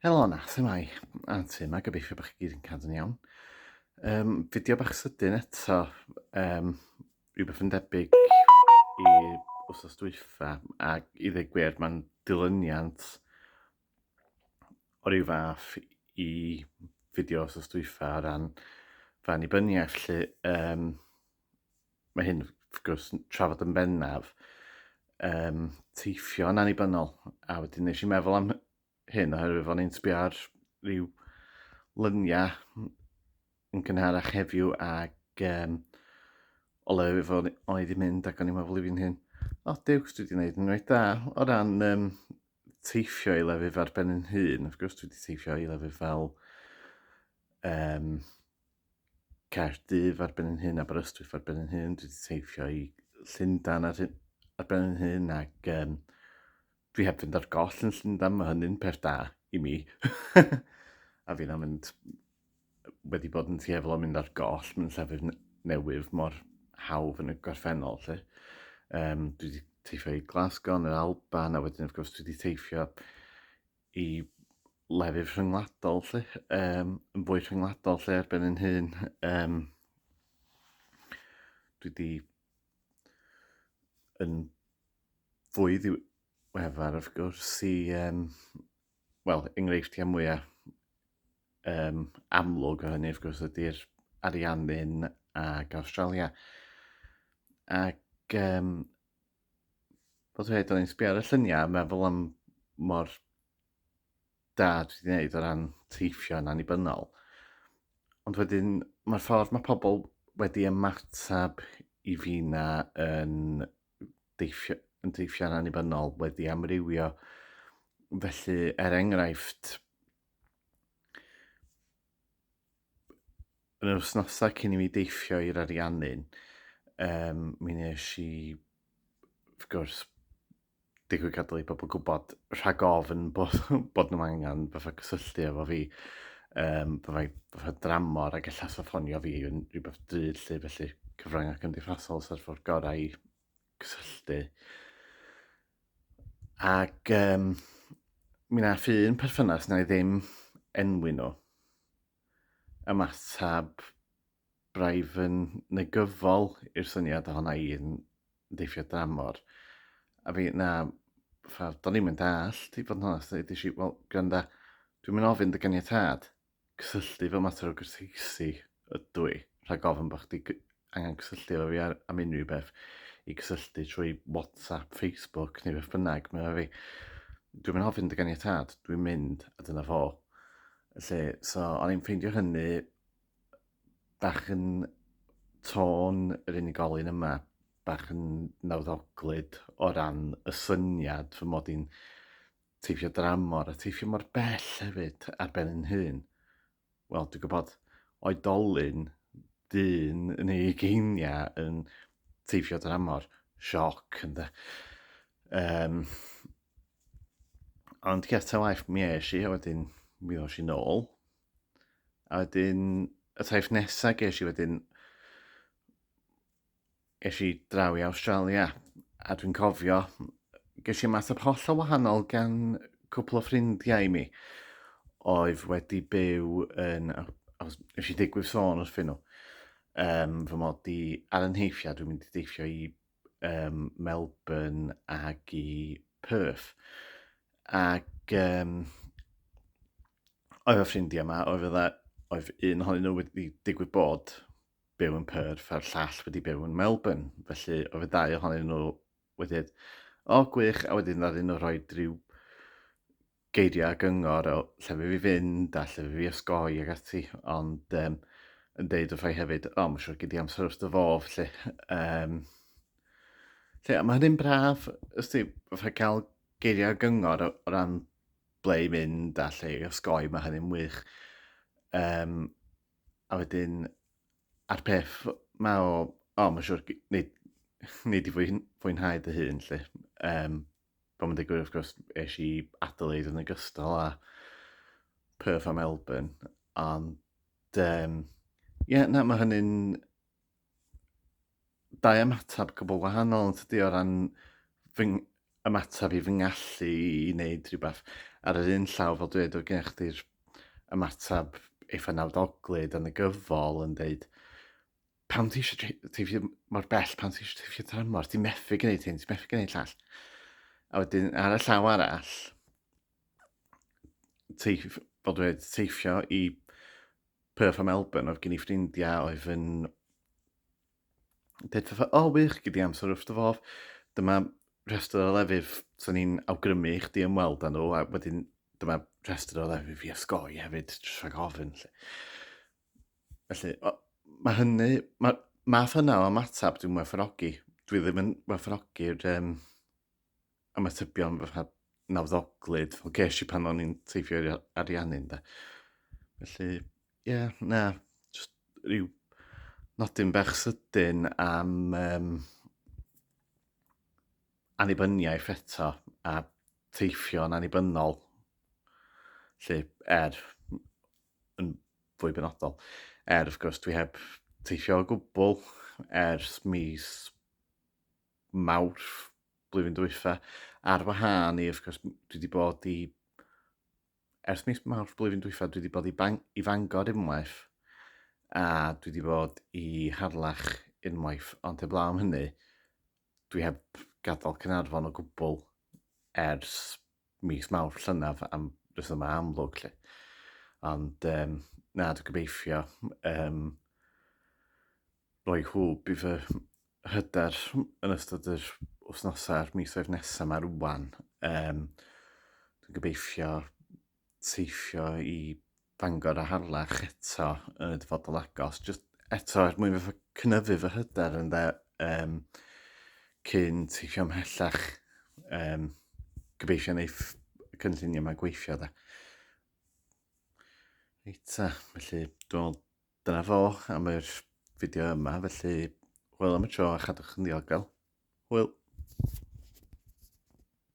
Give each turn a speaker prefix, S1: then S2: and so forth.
S1: Helo na, lle mae Aunty yma, gobeithio bod chi gyd yn cadw'n iawn. Um, fideo bach sydyn eto, um, rhywbeth yn debyg i wrthos dwyfa, ac i ddeg gwir, mae'n dilyniant o ryw fath i fideo wrthos dwyfa o ran fan i byniaeth, lle um, Mae hyn, wrth gwrs, trafod yn bennaf um, teithio yn annibynnol. A wedyn nes i meddwl am hyn oherwydd fo'n i'n sbio ar rhyw lyniau yn cynharach heddiw ac um, o le fo o'n i wedi mynd ac o'n i'n meddwl i fi'n hyn, o diwcs dwi wedi gwneud yn rhaid da o ran um, teithio i lefydd ar ben yn hun, wrth gwrs dwi wedi teithio i lefydd fel um, Caerdydd ar ben yn hyn, Aberystwyth ar ben yn hyn, dwi wedi teithio i Llundain ar, hyn, ar ben yn hyn ac um, dwi heb fynd ar goll yn Llundain, mae hynny'n peth da i mi. a fi'n am mynd, wedi bod yn tueddol o mynd ar goll mewn llefydd newydd mor hawdd yn y gorffennol. Lle. Um, dwi wedi teithio i Glasgow yn yr Alban a wedyn wrth gwrs dwi wedi teithio i lefydd rhyngwladol 'lly, yym yn fwy rhyngwladol 'lly ar ben 'yn hun. Yym dwi 'di yn fwy ddiweddar wrth gwrs i yym wel enghreifftiau mwya' yym amlwg o hynny wrth gwrs ydy'r Ariannin ac Awstralia ac yym... Fel dweud, o'n i'n sbio ar y lluniau a meddwl am mor da dwi wedi gwneud o ran teithio yn annibynnol. Ond wedyn, mae'r ffordd mae pobl wedi ymateb i fi na yn deithio, yn deithio'n annibynnol wedi amrywio. Felly, er enghraifft, yn yr wythnosau cyn i mi deithio i'r Ariannin, um, mi nes i, wrth gwrs, digwydd gadael i bobl gwybod rhag ofn bod, bod nhw'n angen fatha cysylltu efo fi. Um, byddai fatha dramor ac allas o ffonio fi yn rhywbeth drud lle felly cyfryngau cymdeithasol sef ffordd gorau i cysylltu. Ac um, mi nath un perthynas na i ddim enwi nhw ymateb braidd yn negyfol i'r syniad ohona i'n deithio dramor. A fi, na, ffordd, do'n i'n mynd all, i fod yn honest, dweud i si, wel, gwranda, dwi'n mynd ofyn dy ganiatad. cysylltu efo mater o gyrteisi ydw i, rhag ofn bod chdi angen cysylltu efo fi ar, am unrhyw beth, i gysylltu trwy WhatsApp, Facebook neu beth bynnag, mae fi, dwi'n mynd hofyn dy ganiatad, dwi'n mynd a dyna fo. Felly, so o'n i'n ffeindio hynny bach yn tôn yr unigolyn yma, bach yn nawddoglyd o ran y syniad fy mod i'n Teithio dramor a teithio mor bell hefyd ar ben yn hun. Wel, dwi'n gwybod oedolyn dyn yn ei geiniau yn teithio dramor. Sioc, ynddo. Um, ond ger ta waith mi eis i, a wedyn mi ddos i'n ôl. A wedyn, y taith nesaf ges i wedyn, Ges i draw i Awstralia a dwi'n cofio ges i ymateb holl o wahanol gan cwpl o ffrindiau mi oedd wedi byw yn... nes i ddigwydd sôn wrthyn nhw um, fy mod i ar y nheithio, dwi'n mynd i deithio i um, Melbourne ac i Perth. Ac um, oedd y ffrindiau yma, oedd, oedd un ohonyn nhw wedi digwydd bod byw yn Perth a'r llall wedi byw yn Melbourne. Felly oedd y dau ohonyn nhw wedi dweud, o gwych, a wedyn oedd un nhw rhoi rhyw geiriau a gyngor o lle fi fi fynd a lle fi fi osgoi ag ati. Ond um, yn deud wrth rhai hefyd, o, mae'n siŵr gyd i amser wrth dy fof, lle. Um, lle mae hynny'n braf, ysdi, fatha cael geiriau gyngor o, o ran ble i mynd a lle i osgoi, mae hynny'n wych. Um, A wedyn, a'r peth ma o, o, mae'n siŵr, neu, neu di fwy, fwynhau dy hun, lle. Um, Fel mae'n digwydd, wrth gwrs, eisiau i Adelaide yn ogystal a Perth a Melbourne, ond ie, yeah, na, mae hynny'n dau ymateb gwbl wahanol yn tydi o ran fy ymateb i fy ngallu i wneud rhywbeth. Ar yr un llaw, fel dweud, o gen chdi'r ymateb eitha nawdoglyd yn y gyfol yn dweud, pam ti eisiau teithio mor bell, pam ti eisiau teithio tramor, ti'n methu gwneud hyn, ti'n methu gwneud llall. A wedyn, ar y llaw arall, teif, fel dweud, teifio i Perth a Melbourne, oedd gen i ffrindiau oedd yn dweud fatha, o oh, wych, gyda amser wrth dy fodd, dyma rhestr o lefydd sy'n ni'n awgrymu i chdi ymweld â nhw, a wedyn dyma rhestr o lefydd i osgoi hefyd, rhag ofyn. Lle. Felly, o, mae hynny, mae math yna o ymateb dwi'n werthfawrogi. Dwi ddim yn werthfawrogi'r um, ymatebion fatha nawddoglyd fel ges i pan o'n i'n teifio i'r ariannu ynde. Felly, ie, yeah, na, just rhyw nodyn bach sydyn am um, anibyniaeth eto a teifio'n anibynnol. Lle er, yn fwy benodol, er wrth gwrs dwi heb teifio o gwbl ers mis Mawrth blwyddyn dwytha, ar wahân i, wrth gwrs, dwi wedi bod i, ers mis Mawrth blwyddyn dwytha, dwi wedi bod i, bang, i Fangor unwaith, a dwi wedi bod i Harlech unwaith, ond heblaw am hynny, dwi heb gadael Cynarfon o gwbl ers mis mawr llynaf am rhesymau amlwg lle. Ond um, na, dwi'n gobeithio um, roi hwb i fy hyder yn ystod yr wythnosau'r misoedd nesaf mae rwan. Um, dwi'n gobeithio teithio i Bangor a Harlech eto yn y dyfodol agos, jyst eto er mwyn fatha cynyddu fy hyder ynde, yym, cyn teithio ymhellach, yym, gobeithio wneith y cynlluniau yma gweithio de. Reit ta, felly dwi'n meddwl dyna fo am yr fideo yma, felly hwyl am y tro a chadwch yn ddiogel. Hwyl!